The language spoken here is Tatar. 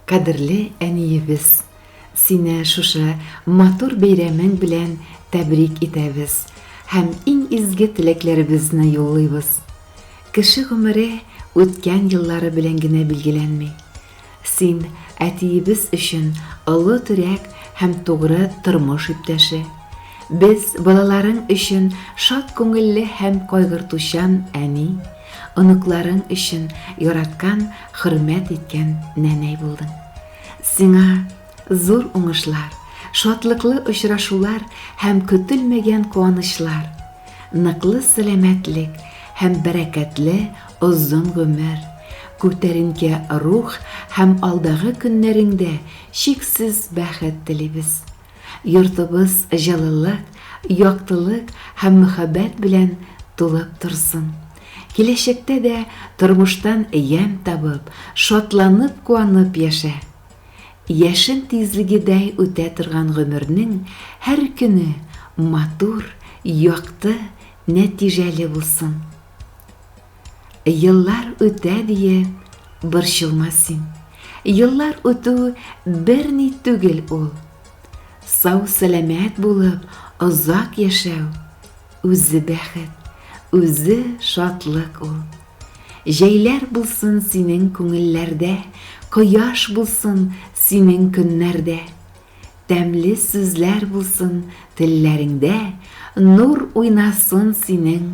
Кадерле әниебез, сине шушы матур бәйрәмең белән тәбрик итәбез һәм иң изге теләкләребезне юллыйбыз. Кеше гомере үткән еллары белән генә билгеләнми. Син әтиебез өчен олы терәк һәм тугры тормыш иптәше. Без, балаларың өчен шат күңелле һәм кайгыртучан әни. Оныкларың өчен яраткан, хөрмәт иткән нәнәй булдың. Сиңа зур уңышлар, шатлыклы очрашулар һәм көтелмәгән куанычлар, ныклы сәламәтлек һәм бәрәкәтле озын гомер, күтәренке рух һәм алдагы көннәреңдә чиксез бәхет телибез. Йортыбыз җылылык, яктылык һәм мөхәббәт белән тулып торсын. Киләчәктә дә тормыштан ямь табып, шатланып-куанып яшә. Яшен тизлегедәй үтә торган гомернең һәр көне матур, якты, нәтиҗәле булсын. Еллар үтә диеп, борчылма син. Еллар үтү берни түгел ул. Сау-сәламәт булып, озак яшәү, үзе бәхет, үзе шатлык ул. Җәйләр булсын синең күңелләрдә, кояш булсын синең көннәрдә. Тәмле сүзләр булсын телләреңдә, нур уйнасын синең